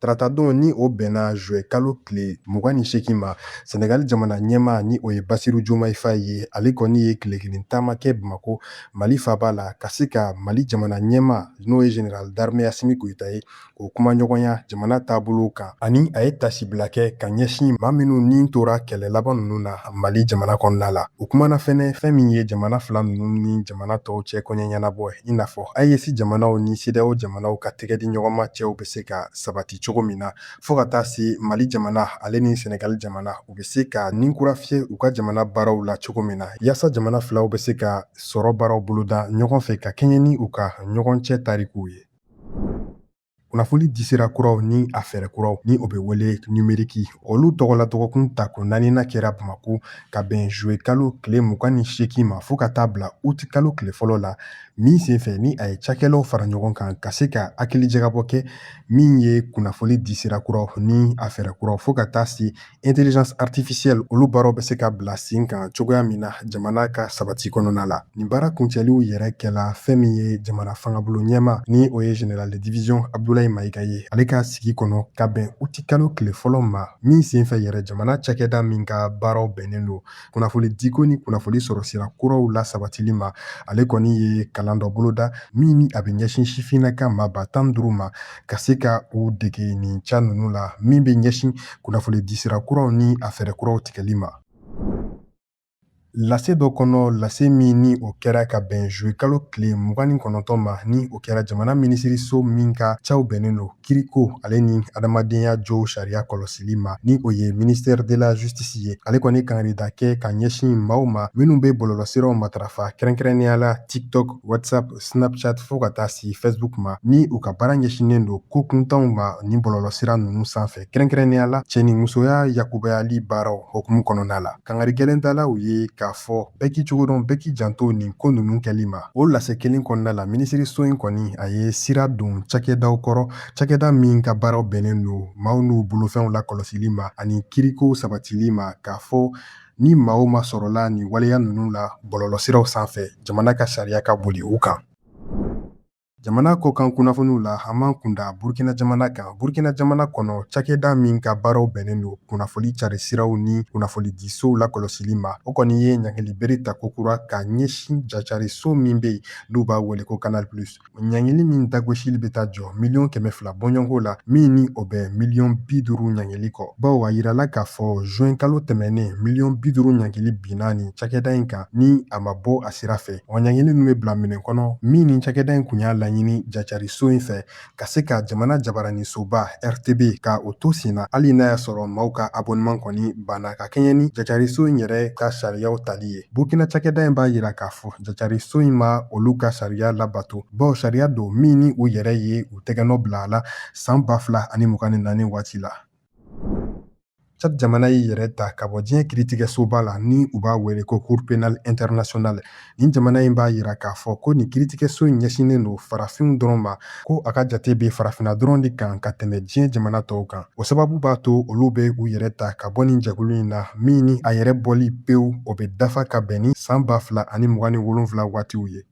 Taratadon ni o bɛnna zuwɛ kalo tile mugan ni seegin ma sɛnɛgali jamana ɲɛma ni o ye basiru jomayi fayi ye ale kɔni ye tile kelen taama kɛ bamakɔ mali faba la ka se ka mali jamana ɲɛma n'o ye general d'armée asimi goyita ye o kumaɲɔgɔnya jamana taabolo kan ani a ye tasibila kɛ ka ɲɛsin maa minnu ni tora kɛlɛ laban ninnu na mali jamana kɔnɔna la o kumana fɛnɛ fɛn min ye jamana fila ninnu ni jamana tɔw cɛ kɔɲɛ ɲɛnabɔ i n'a fɔ AES jamanaw ni CEDEAO jamanaw ka tɛgɛ di ɲɔgɔnma cɛw bɛ se ka sabati cogo min na fɔɔ ka taa se Mali jamana ale ni Senegal jamana u be se ka nin kura fiye u ka jamana baaraw la cogo min na yaasa jamana filaw be se ka sɔrɔ baaraw boloda ɲɔgɔn fɛ ka kɛɲɛ ni u ka ɲɔgɔn cɛ tarikuw ye. Kunnafoli disira kuraw ni a fɛɛrɛ kuraw ni o bɛ wele nimeriki olu tɔgɔla dɔgɔkun ta ko naaninan kɛra bamako ka bɛn zuwe kalo tile mugan ni seegin ma fɔɔ ka taa bila uti kalo tile fɔlɔ la min senfɛ ni a ye cakɛlaw fara ɲɔgɔn kan ka se ka hakili jagabɔ kɛ min ye kunnafoni di sira kuraw ni a fɛɛrɛ kuraw fo ka taa se intelligence artificielle olu baaraw bɛ se ka bila sen kan cogoya min na jamana ka sabati kɔnɔna la nin baara kuncɛliw yɛrɛ kɛla fɛn min ye jamana fangabolo ɲɛma ni o ye general de division abdulayi mayiga ye ale ka sigi kɔnɔ ka bɛn utikalo tile fɔlɔ ma min senfɛ yɛrɛ jamana cakɛda min ka baaraw bɛnnen don kunnafoni diko ni kunnafoni sɔrɔ sira kuraw lasabatili ma ale kɔni ye kalan dɔ boloda min ni a bɛ ɲɛsin sifinnaka maa ba tan duuru ma ka se ka u dege nin ca ninnu la min bɛ ɲɛsin kunnafoni disira kuraw ni a fɛɛrɛ kuraw tigɛli ma lase dɔ kɔnɔ lase min ni o kɛra ka bɛn zuwe kalo tile mugan ni kɔnɔntɔn ma ni o kɛra jamana minisiriso min ka caw bɛnnen don kiriko ale ni adamadenya josariya kɔlɔsili ma ni o ye ministère de la justice ye ale kɔni kangarida kɛ ka ɲɛsin maaw ma minnu bɛ bɔlɔlɔsiraw matarafa kɛrɛnkɛrɛnnenya la tiktok whatsapp snapchat fɔɔ ka taa se facebook ma ni u ka baara ɲɛsinnen don ko kuntanw ma nin bɔlɔlɔsira ninnu sanfɛ kɛrɛnkɛrɛnnenya la cɛnimusoya yakubayali baaraw hukumu kɔnɔna la kangari gɛlɛn dala u ye k'a fɔ bɛɛ k'i cogo dɔn bɛɛ k'i janto nin ko ninnu kɛli ma O lase kelen kɔnɔna la minisiriso in kɔni a ye sira don cakɛdaw kɔrɔ cakɛda min ka baaraw bɛnnen don maaw n'u bolofɛnw lakɔlɔsili ma ani kiriko sabatili ma k'a fɔ ni maa o maa sɔrɔla nin waleya ninnu la bɔlɔlɔsiraw sanfɛ jamana ka sariya ka boli u kan Jamana kɔ kan kunnafoniw la an b'an kunda Burukina jamana kan. Burukina jamana kɔnɔ, cakɛda min ka baaraw bɛnnen don kunnafoni cari siraw ni kunnafonidisow lakɔlɔsili ma, o kɔni ye ɲangili bere ta kokura ka ɲɛsin jacari so min bɛ yen n'u b'a wele ko Canal Plus. Ɲangili min dagosili bɛ taa jɔ miliyɔn kɛmɛ fila bɔɲɔgɔnko la, min ni o bɛ miliyɔn bi duuru ɲangili kɔ. Bawo a jirala k'a fɔ zuwɛnkalo tɛmɛnnen, miliyɔn bi duuru ɲangili binna nin cakɛda in kan ni a ma bɔ a sira fɛ. Wa ɲangili min bɛ bila minɛ kɔnɔ min ni cakɛda in tun y'a laɲini jacariso in fɛ ka se ka jamana jabaranisoba rtb ka o to sen na hali n'a y'a sɔrɔ maaw ka abonnement kɔni banna ka kɛɲɛ ni jacariso in yɛrɛ ka sariyaw tali ye burkina cakɛda in b'a yira k'a fɔ jacariso in ma olu ka sariya labato bawo sariya don min ni u yɛrɛ ye u tɛgɛnɔ bila a la san ba fila ani mugan ni naani waati la Cadi jamana y'i yɛrɛ ta ka bɔ diɲɛ kiritigɛsoba la ni u b'a wele ko cour pénale internationale nin jamana in b'a yira k'a fɔ ko nin kiritigɛso in ɲɛsinnen don farafinw dɔrɔn ma ko a ka jate bɛ farafinna dɔrɔn de kan ka tɛmɛ diɲɛ jamana tɔw kan o sababu b'a to olu bɛ u yɛrɛ ta ka bɔ nin jɛkulu in na min ni a yɛrɛ bɔli pewu o bɛ dafa ka bɛn ni saan ba fila ani mugan ni wolonfila waatiw ye